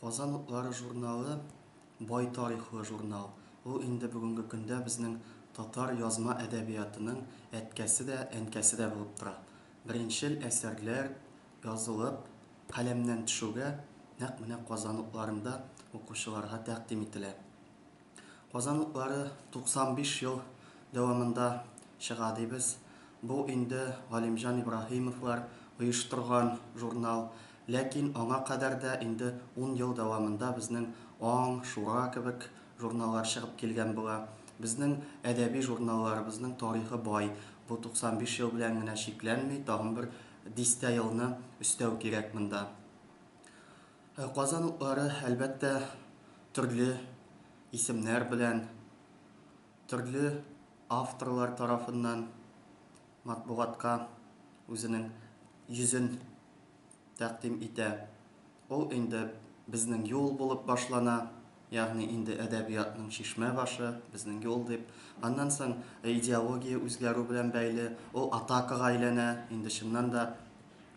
Казан утлары журналы бай тарихлы журнал. Ул инде бүгенге көндә безнең татар язма әдәбиятының әткәсе дә, әнкәсе дә булып тора. Беренчел әсәрләр язылып, каләмнән төшүгә, нәкъ менә Казан утларында укучыларга тәкъдим ителә. Казан утлары 95 ел дәвамында чыга дибез. Бу инде Галимҗан Ибраһимовлар оештырган журнал. Ләкин аңа кадәр дә инде ун ел дәвамында безнең Аң, Шура кебек журналлар чыгып килгән була. Безнең әдәби журналларыбызның тарихы бай. Бу 95 ел белән генә чикләнми, тагын бер дистә елны өстәү кирәк монда. Ә Казан утлары, әлбәттә, төрле исемнәр белән, төрле авторлар тарафыннан матбугатка үзенең йөзен тәкъдим итә. Ул инде Безнең юл булып башлана. Ягъни инде әдәбиятның чишмә башы, безнең юл дип. Аннан соң идеология үзгәрү белән бәйле, ул атакага әйләнә, инде чыннан да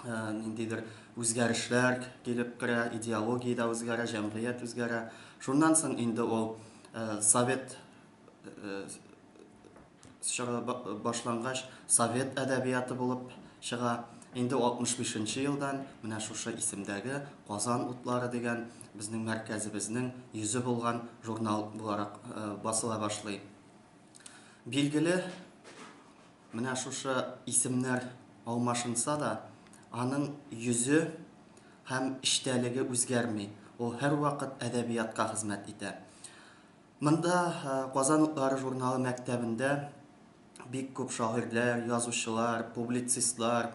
ниндидер үзгәрешләр килеп керә, идеология дә үзгәрә, җәмгыять үзгәрә. Шуннан соң инде ул совет Чыга башлангач, совет әдәбияты булып чыга. Инде 65 нче елдан менә шушы исемдәге Казан утлары дигән безнең мәркәзебезнең йөзе булган журнал буларак басыла башлый. Билгеле, менә шушы исемнәр алмашынса да, аның йөзе һәм эчтәлеге үзгәрми, ул һәрвакыт әдәбиятка хезмәт итә. Монда Казан утлары журналы мәктәбендә бик күп шагыйрьләр, язучылар, публицистлар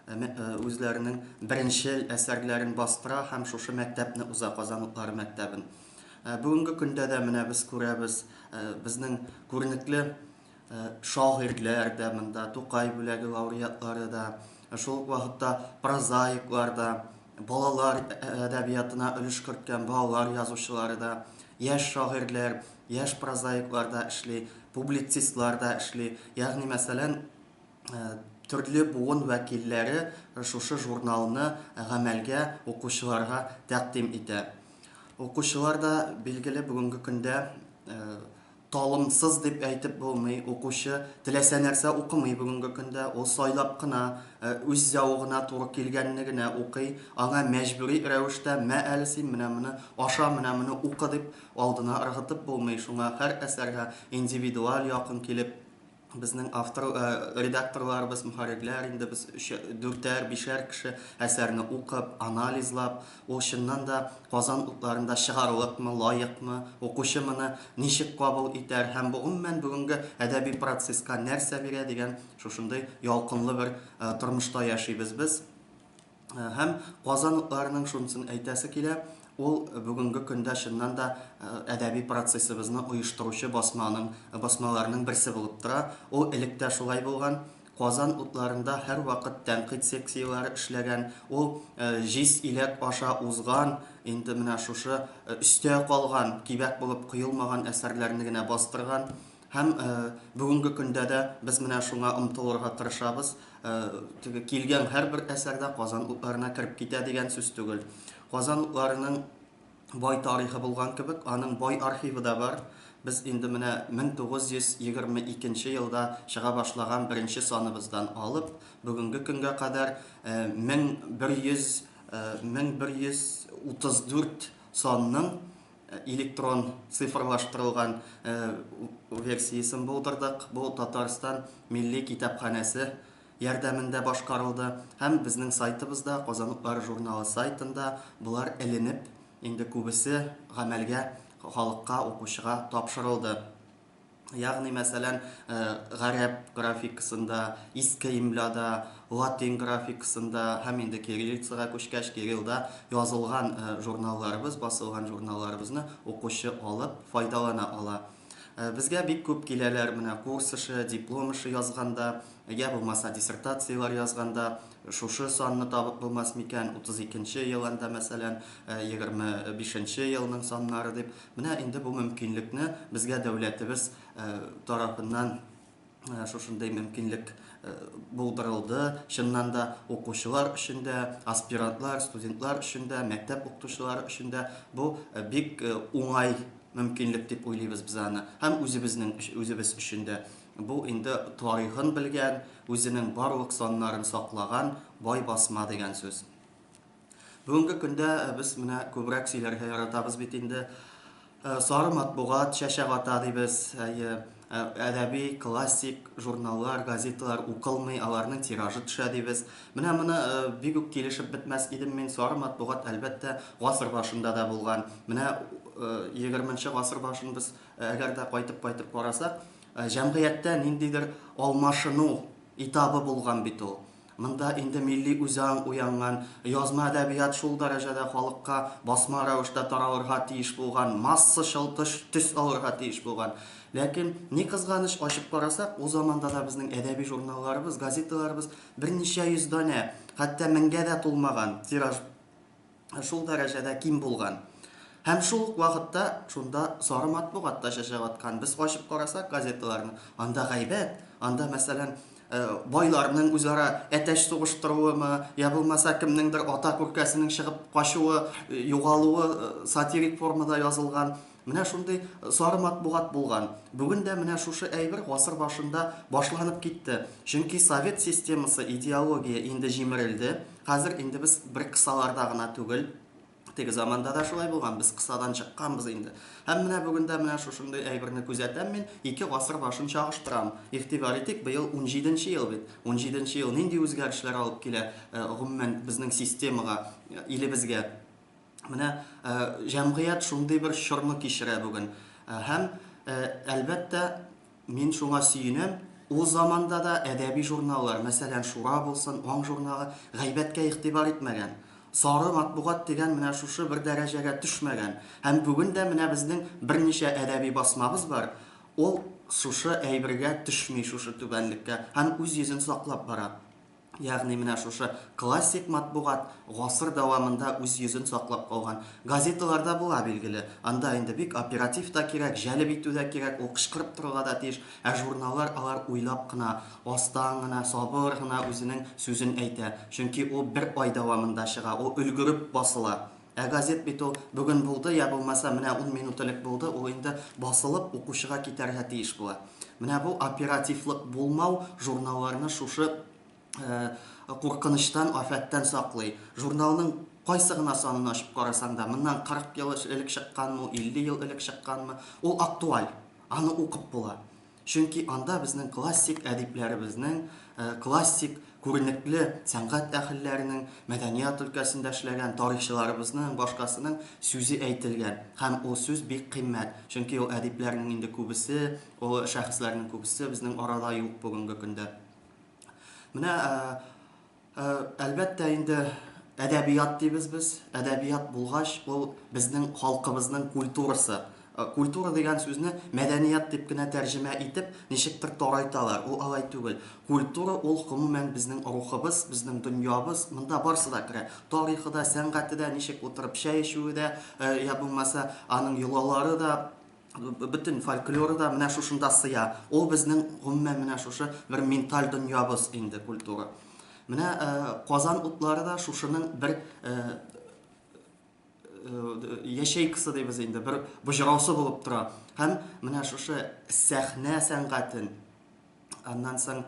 үзләренең беренчел әсәрләрен бастыра һәм шушы мәктәпне уза, Казан утлары мәктәбен. Бүгенге көндә дә менә без күрәбез, безнең күренекле Шагыйрьләр дә монда, Тукай бүләге лауреатлары да, шул ук вакытта прозаиклар да, балалар әдәбиятына өлеш керткән балалар язучылары да, яшь шагыйрьләр, яшь прозаиклар да эшли, публицистлар да эшли. Ягъни, мәсәлән, төрле буын вәкилләре шушы журналны гамәлгә укучыларга тәкъдим итә. Укучылар да, билгеле, бүгенге көндә Талымсыз дип әйтеп булмый, укучы теләсә нәрсә укымый бүгенге көндә, ул сайлап кына, үз зәвыгына туры килгәнне генә укый, аңа мәҗбүри рәвештә, мә әле син менә моны аша, менә моны укы дип алдына ыргытып булмый, шуңа һәр әсәргә индивидуаль якын килеп, Безнең автор, э, редакторларыбыз, мөхәррирләр инде без өчә, дүртәр, бишәр кеше әсәрне укып, анализлап, ул чыннан да Казан утларында чыгарлыкмы, лаекмы, укучы моны ничек кабул итәр һәм бу гомумән бүгенге әдәби процесска нәрсә бирә дигән шушындый ялкынлы бер э, тормышта яшибез без. Һәм казанлыларның шунысын әйтәсе килә, ул бүгенге көндә чыннан да әдәби процессыбызны оештыручы басманың, басмаларның берсе булып тора. Ул элек тә шулай булган. Казан утларында һәрвакыт тәнкыйть секцияләре эшләгән. Ул җиз иләк аша узган, инде менә шушы өстә калган, кибәк булып коелмаган әсәрләрне генә бастырган. Һәм бүгенге көндә дә без менә шуңа омтылырга тырышабыз. Теге килгән һәрбер әсәр дә Казан утларына кереп китә дигән сүз түгел. Казан утларының бай тарихы булган кебек, аның бай архивы да бар. Без инде менә 1922 нче елда чыга башлаган беренче саныбыздан алып, бүгенге көнгә кадәр 1100, 1134 санның электрон цифрлаштырылган версиясен булдырдык. Бу Татарстан милли китапханәсе ярдәмендә башкарылды һәм безнең сайтыбызда, Казанлылар журналы сайтында болар эленеп, инде күбесе гамәлгә, халыкка, укучыга тапшырылды. Ягъни, мәсәлән, гарәп графикасында, иске имляда, латин графикасында һәм инде кириллицага күчкәч, кириллда язылган журналларыбыз, басылган журналларыбызны укучы алып, файдалана ала. Безгә бик күп киләләр, менә курс эше, диплом эше язганда, я булмаса диссертацияләр язганда, шушы санны табып булмас микән, 32 нче ел анда, мәсәлән, 25 нче елның саннары дип, Менә инде бу мөмкинлекне безгә дәүләтебез тарафыннан шушындый мөмкинлек булдырылды. Чыннан да укучылар өчен дә, аспирантлар, студентлар өчен дә, мәктәп укытучылары өчен дә бу бик уңай мөмкинлек дип уйлыйбыз без аны. Һәм үзебезнең үзебез өчен дә бу инде тарихын белгән, үзенең барлык саннарын саклаган бай басма дигән сүз. Бүгенге көндә без менә күбрәк сөйләргә яратабыз бит инде. Сары матбугат чәчәк ата дибез. Әйе, әдәби, классик журналлар, газеталар укылмый, аларның тиражы төшә дибез. Менә моны бик үк килешеп бетмәс идем мин. Сары матбугат, әлбәттә, гасыр башында да булган. Менә 20 гасыр башын без әгәр дә кайтып-кайтып карасак, җәмгыятьтә ниндидер алмашыну этабы булган бит ул. Монда инде милли үзаң уянган, язма әдәбият шул дәрәҗәдә халыкка басма рәвештә таралырга тиеш булган, массачыл тыш төс алырга тиеш булган. Ләкин, ни кызганыч, ачып карасак, ул заманда да безнең әдәби журналларыбыз, газеталарыбыз берничә йөз данә, хәтта меңгә дә тулмаган тираж шул дәрәҗәдә ким булган. Һәм шул ук вакытта шунда сары матбугат та чәчәк аткан. Без ачып карасак газеталарны, анда гайбәт, анда, мәсәлән, э, байларның үзара әтәч сугыштыруымы, я булмаса кемнеңдер ата күркәсенең чыгып качуы, э, югалуы э, сатирик формада язылган. Менә шундый сары матбугат булган. Бүген дә менә шушы әйбер гасыр башында башланып китте. Чөнки совет системасы, идеология инде җимерелде. Хәзер инде без бер кысаларда гына түгел. Теге заманда да шулай булган, без кысадан чыкканбыз инде. Һәм менә бүген дә менә шушындый әйберне күзәтәм мин, ике гасыр башын чагыштырам. Игътибар итик, быел унҗиде нче ел бит. Унҗиде нче ел нинди үзгәрешләр алып килә, гомумән, безнең системага, илебезгә? Менә җәмгыять шундый бер чорны кичерә бүген. Һәм, әлбәттә, мин шуңа сөенәм, ул заманда да әдәби журналлар, мәсәлән, Шура булсын, Аң журналы, гайбәткә игътибар итмәгән. Сары матбугат дигән менә шушы бер дәрәҗәгә төшмәгән. Һәм бүген дә менә безнең берничә әдәби басмабыз бар, ул шушы әйбергә төшми, шушы түбәнлеккә, һәм үз йөзен саклап бара. Ягъни менә шушы классик матбугат гасыр дәвамында үз йөзен саклап калган. Газеталарда була, билгеле. Анда инде бик оператив та кирәк, җәлеп итү дә кирәк, ул кычкырып торырга да тиеш. Ә журналлар алар уйлап кына, астан гына, сабыр гына үзенең сүзен әйтә. Чөнки ул бер ай дәвамында чыга, ул өлгереп басыла. Ә газет бит ул, бүген булды, йә булмаса менә ун минут элек булды, ул инде басылып, укучыга китәргә тиеш була. Менә бу оперативлык булмау журналларны шушы куркынычтан, афәттән саклый. Журналның кайсы гына санын ачып карасаң да, моннан 40 ел элек чыкканмы ул, 50 ел элек чыкканмы, ул актуаль, аны укып була. Чөнки анда безнең классик әдипләребезнең, классик күренекле сәнгать әһелләренең, мәдәният өлкәсендә эшләгән тарихчыларыбызның, башкасының сүзе әйтелгән. Һәм ул сүз бик кыйммәт. Чөнки ул әдипләрнең инде күбесе, ул шәхесләрнең күбесе безнең арада юк бүгенге көндә. Менә Әлбәттә инде, әдәбият дибез без. Әдәбият булгач, ул безнең халкыбызның культурасы. Культура дигән сүзне мәдәният дип кенә тәрҗемә итеп, ничектер тарайталар. Ул алай түгел. Культура ул, гомумән, безнең рухыбыз, безнең дөньябыз. Монда барысы да керә. Тарихы да, сәнгате дә, ничек утырып чәй эчүе дә, я булмаса, аның йолалары да, бөтен фольклоры да менә шушында сыя. Ул безнең гомумән менә шушы бер менталь дөньябыз инде культура. Менә э, Казан утлары да шушының бер э, э, яшәйкасы дибез инде, бер боҗраусы булып тора. Һәм менә шушы сәхнә сәнгатен аннан соң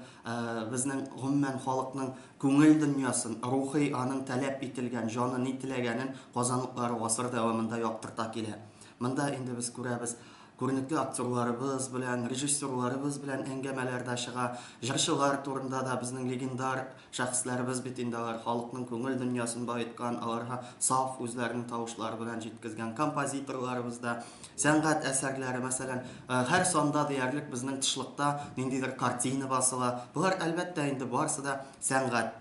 безнең гомумән халыкның күңел дөньясын, рухи аның таләп ителгән, җаны ни теләгәнен казанлыклар гасыр дәвамында яктырта килә. Монда инде без күрәбез, күренекле актерларыбыз белән, режиссерларыбыз белән әңгәмәләр дә чыга, җырчылар турында да безнең легендар Шәхесләребез бит инде алар, халыкның күңел дөньясын баеткан, аларга саф үзләренең тавышлары белән җиткезгән композиторларыбыз да, сәнгать әсәрләре, мәсәлән, һәр санда диярлек безнең тышлыкта ниндидер картина басыла. Болар, әлбәттә, инде барысы да сәнгать.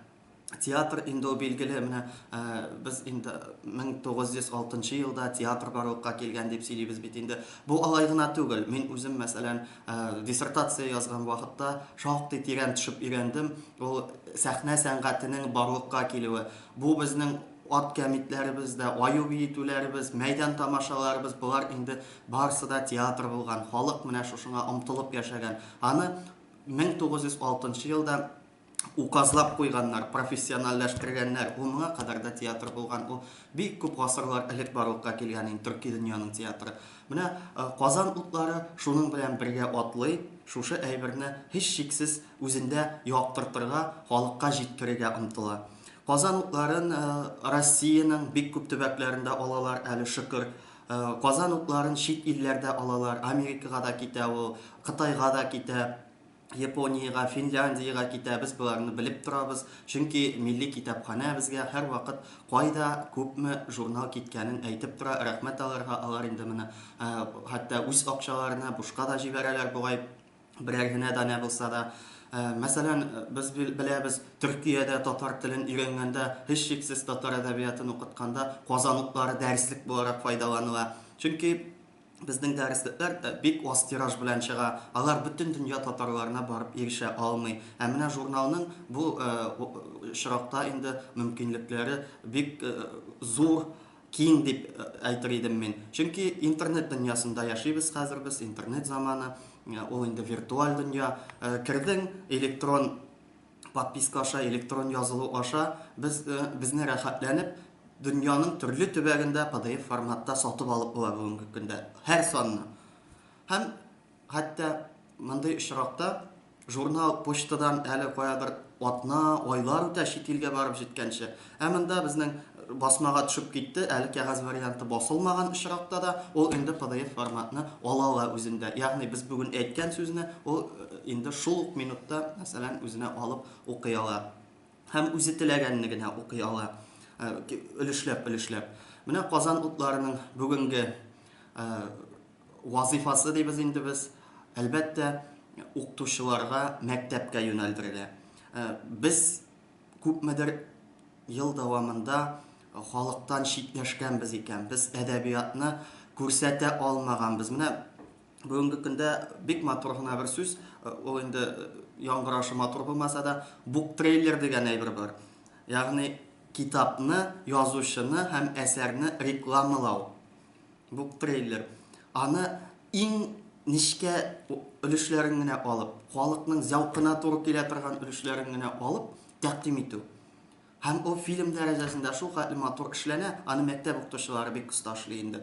Театр инде ул билгеле, менә без инде 1906 елда театр барлыкка килгән дип сөйлибез бит инде. Бу алай гына түгел. Мин үзем, мәсәлән, Ә, диссертация язган вакытта шактый тирән төшеп өйрәндем. Ул сәхнә сәнгатенең барлыкка килүе. Бу безнең ат кәмитләребез дә, аю биетүләребез, мәйдан тамашаларыбыз, болар инде барысы да театр булган. Халык менә шушыңа омтылып яшәгән. Аны 1906 елда указлап куйганнар, профессиональләштергәннәр. Ул моңа кадәр дә театр булган. Ул бик күп гасырлар элек барлыкка килгән инде төрки дөньяның театры. Менә э, Казан утлары шуның белән бергә атлый, шушы әйберне һич шиксез үзендә яктыртырга, халыкка җиткерергә омтыла. Казан утларын э, Россиянең бик күп төбәкләрендә алалар әле шөкер. Э, Казан утларын чит илләрдә алалар, Америкага да китә ул, Кытайга да китә. Япониягә, Финляндиягә китәбез, боларны белеп торабыз. Чөнки милли китапханә безгә һәрвакыт кайда күпме журнал киткәнен әйтеп тора. Рәхмәт аларга, алар инде менә хәтта үз акчаларына бушка да җибәрәләр бугай, берәр генә данә булса да. Мәсәлән, без беләбез, Төркиядә татар телен өйрәнгәндә, һичшиксез татар әдәбиятын укытканда, Казан утлары дәреслек буларак файдаланыла. Чөнки Безнең дәреслекләр бик аз тираж белән чыга, алар бөтен дөнья татарларына барып ирешә алмый. Ә менә журналның бу очракта инде мөмкинлекләре бик зур, киң дип әйтер идем мин. Чөнки интернет дөньясында яшибез хәзер без, интернет заманы, ул инде виртуаль дөнья. Кердең, электрон подписка аша, электрон язылу аша без э, безне рәхәтләнеп дөньяның төрле төбәгендә PDF форматта сатып алып була бүгенге көндә һәр санны. Һәм хәтта мондый очракта журнал почтадан әле каядыр атна, айлар үтә чит илгә барып җиткәнче. Ә монда безнең басмага төшеп китте, әле кәгазь варианты басылмаган очракта да ул инде PDF форматны ала ла үзендә. Ягъни без бүген әйткән сүзне ул инде шул ук минутта, мәсәлән, үзенә алып укый ала. Һәм үзе теләгәнне генә укый ала. Өлешләп-өлешләп. Менә Казан утларының бүгенге вазыйфасы дибез инде без. Әлбәттә, укытучыларга мәктәпкә юнәлдергә. Без күпмедер ел дәвамында халыктан читләшкәнбез икән, без әдәбиятны күрсәтә алмаганбыз. Менә бүгенге көндә бик матур гына бер сүз, ул инде яңгырашы матур булмаса да, буктрейлер дигән әйбер бар. Ягъни китапны, язучыны һәм әсәрне рекламалау. Бу трейлер. Аны иң нечкә өлешләрен генә алып, халыкның зәвкына туры килә торган өлешләрен генә алып тәкъдим итү. Һәм ул фильм дәрәҗәсендә шул хәтле матур эшләнә, аны мәктәп укытучылары бик оста эшли инде.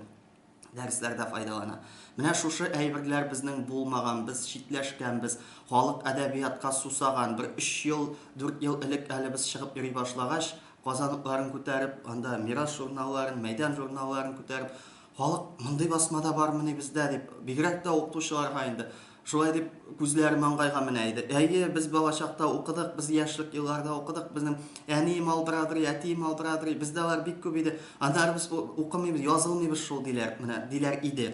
Дәресләрдә файдалана. Менә шушы әйберләр безнең булмаган, без читләшкәнбез. Халык әдәбиятка сусаган. Бер өч ел, дүрт ел элек әле без чыгып йөри башлагач, Казанлыкларын күтәреп, анда Мирас журналларын, Мәйдан журналларын күтәреп, халык мондый басмада бармыни бездә дип, бигрәк тә укытучыларга инде шулай дип күзләре маңгайга менә иде. Әйе, без балачакта укыдык, без яшьлек елларда укыдык, безнең әнием алдырадыр, әтием алдырадыр, бездә алар бик күп иде. Аннары без укымыйбыз, язылмыйбыз шул диләр, менә диләр иде.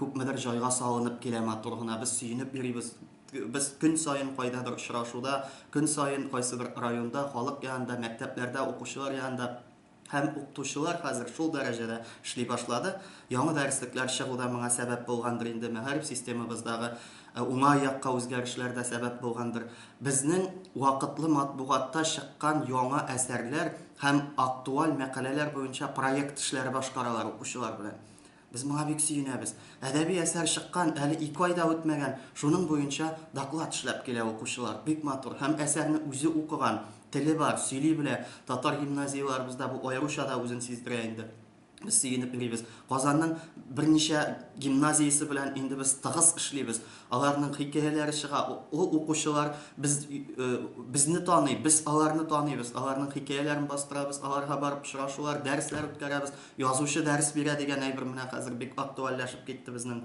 Күпмедер җайга салынып килә, матур гына, без сөенеп йөрибез. Без көн саен кайдадыр очрашуда, көн саен кайсыбер районда, халык янында, мәктәпләрдә, укучылар янында. Һәм укытучылар хәзер шул дәрәҗәдә эшли башлады. Яңа дәреслекләр чыгу да моңа сәбәп булгандыр инде, мәгариф системабыздагы уңай якка үзгәрешләр дә сәбәп булгандыр. Безнең вакытлы матбугатта чыккан яңа әсәрләр һәм актуаль мәкаләләр буенча проект эшләре башкаралар укучылар белән. Без моңа бик сөенәбез. Әдәби әсәр чыккан әле ике ай да үтмәгән, шуның буенча доклад эшләп килә укучылар. Бик матур. Һәм әсәрне үзе укыган, теле бар, сөйли белә. Татар гимназияләребездә бу аеруча да үзен сиздерә инде. Без сөенеп йөрибез. Казанның берничә гимназиясе белән инде без тыгыз эшлибез. Аларның хикәяләре чыга, ул укучылар без, безне таный, без аларны таныйбыз, аларның хикәяләрен бастырабыз, аларга барып очрашулар, дәресләр үткәрәбез. Язучы дәрес бирә дигән әйбер менә хәзер бик актуальләшеп китте безнең.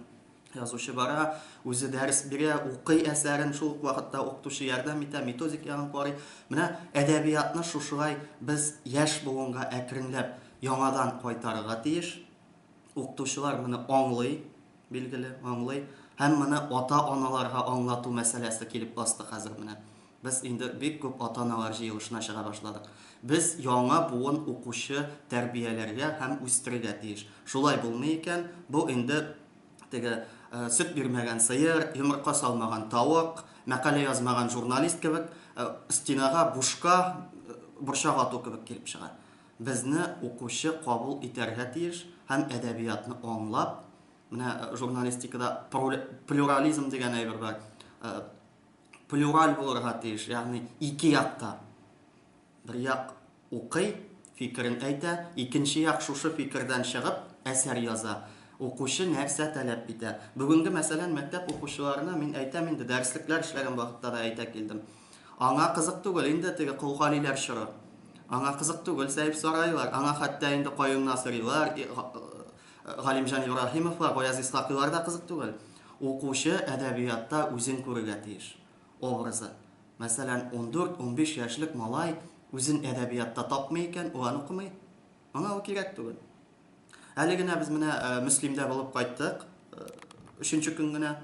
Язучы бара, үзе дәрес бирә, укый әсәрен, шул ук вакытта укытучы ярдәм итә, методик ягын карый. Менә әдәбиятны шушылай без яшь буынга әкренләп яңадан кайтарырга тиеш. Укытучылар моны аңлый, билгеле, аңлый. Һәм моны ата-аналарга аңлату мәсьәләсе килеп басты хәзер менә. Без инде бик күп ата-аналар җыелышына чыга башладык. Без яңа буын укучы тәрбияләргә һәм үстерергә тиеш. Шулай булмый икән, бу инде теге сөт бирмәгән сыер, йомырка салмаган тавык, мәкалә язмаган журналист кебек стенага бушка борчак ату кебек килеп чыга. Безне укучы кабул итәргә тиеш һәм әдәбиятны аңлап, менә журналистикада плюрализм дигән әйбер бар, плюраль булырга тиеш, ягъни ике якта. Бер як укый, фикерен әйтә, икенче як шушы фикердән чыгып, әсәр яза. Укучы нәрсә таләп итә? Бүгенге, мәсәлән, мәктәп укучыларына мин әйтәм инде, дәреслекләр эшләгән вакытта да әйтә килдем. Аңа кызык түгел инде теге колгалиләр чоры. Аңа кызык түгел сәйф сарайлар, аңа хәтта инде каюмна сорыйлар, Галимҗан Ибраһимовка Гаяз Исхакыйлар да кызык түгел. Укучы әдәбиятта үзен күрергә тиеш. Образы. Мәсәлән, ундүрт, унбиш яшьлек малай үзен әдәбиятта тапмый икән, ул аны укымый. Аңа ул кирәк түгел. Әле генә без менә Мөслимдә булып кайттык, өченче көн генә.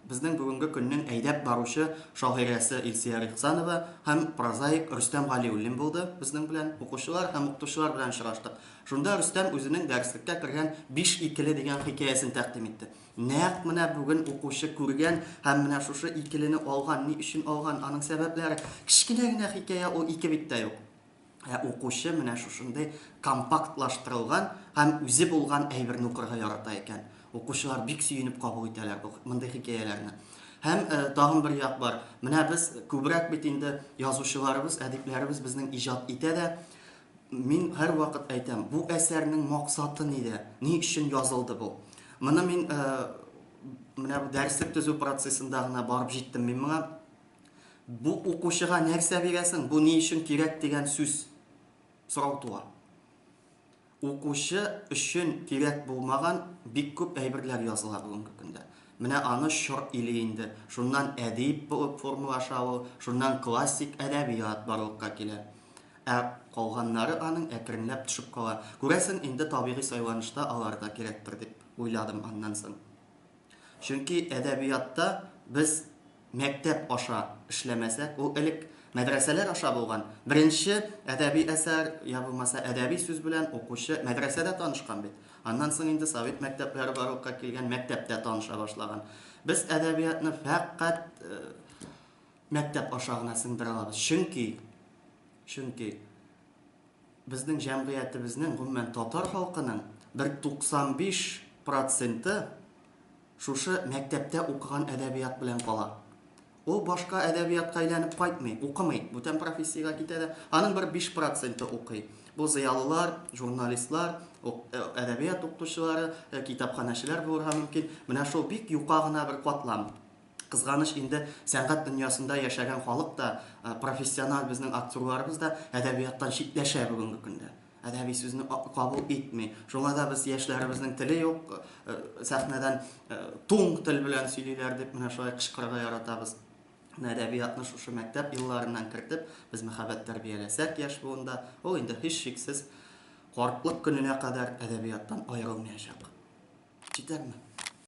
безнең бүгенге көннең әйдәп баручы шагыйрәсе Илсөяр Ихсанова һәм прозаик Рөстәм Галиуллин булды безнең белән. Укучылар һәм укытучылар белән очраштык. Шунда Рөстәм үзенең дәреслеккә кергән Биш икеле дигән хикәясен тәкъдим итте. Нәкъ менә бүген укучы күргән һәм менә шушы икелене алган, ни өчен алган, аның сәбәпләре. Кечкенә генә хикәя, ул ике бит тә юк. Ә укучы менә шушындый компактлаштырылган һәм үзе булган әйберне укырга ярата икән. Укучылар бик сөенеп кабул итәләр бу мондый хикәяләрне. Һәм тагын бер як бар. Менә без күбрәк бит инде язучыларыбыз, әдипләребез безнең иҗат итә дә. Мин һәрвакыт әйтәм, бу әсәрнең максаты нидә? Ни өчен язылды бу? Моны мин менә бу дәреслек төзү процессында гына барып җиттем мин моңа. Бу укучыга нәрсә бирәсең, бу ни өчен кирәк дигән сүз, сорау туа. Укучы өчен кирәк булмаган бик күп әйберләр языла бүгенге көндә. Менә аны чор или инде. Шуннан әдип булып формалаша ул, шуннан классик әдәбият барлыкка килә. Ә калганнары аның әкренләп төшеп кала. Күрәсең, инде табигый сайланышта алар да кирәктер дип уйладым аннан соң. Чөнки әдәбиятта без мәктәп аша эшләмәсәк, ул элек мәдрәсәләр аша булган. Беренче әдәби әсәр, я булмаса әдәби сүз белән укучы мәдрәсәдә танышкан бит. Аннан соң инде совет мәктәпләре барлыкка килгән, мәктәптә таныша башлаган. Без әдәбиятны фәкать мәктәп аша гына сеңдерә алабыз. Чөнки, чөнки. Безнең җәмгыятебезнең, гомумән, татар халкының бер 95 проценты шушы мәктәптә укыган әдәбият белән кала. Ул башка әдәбиятка әйләнеп кайтмый, укымый, бүтән профессиягә китә дә, аның бер 5 проценты укый. Бу зыялылар, журналистлар, әдәбият укытучылары, китапханәчеләр булырга мөмкин. Менә шул бик юка гына бер катлам. Кызганыч инде, сәнгать дөньясында яшәгән халык та, профессиональ безнең актерларыбыз да әдәбияттан читләшә бүгенге көндә. Әдәби сүзне кабул итми. Шуңа да без яшьләребезнең теле юк, сәхнәдән туң тел белән сөйлиләр дип менә шулай кычкырырга яратабыз. Әдәбиятны шушы мәктәп елларыннан кертеп, без мәхәббәт тәрбияләсәк яшь буында, ул инде һичшиксез картлык көненә кадәр әдәбияттан аерылмаячак. Җитәме?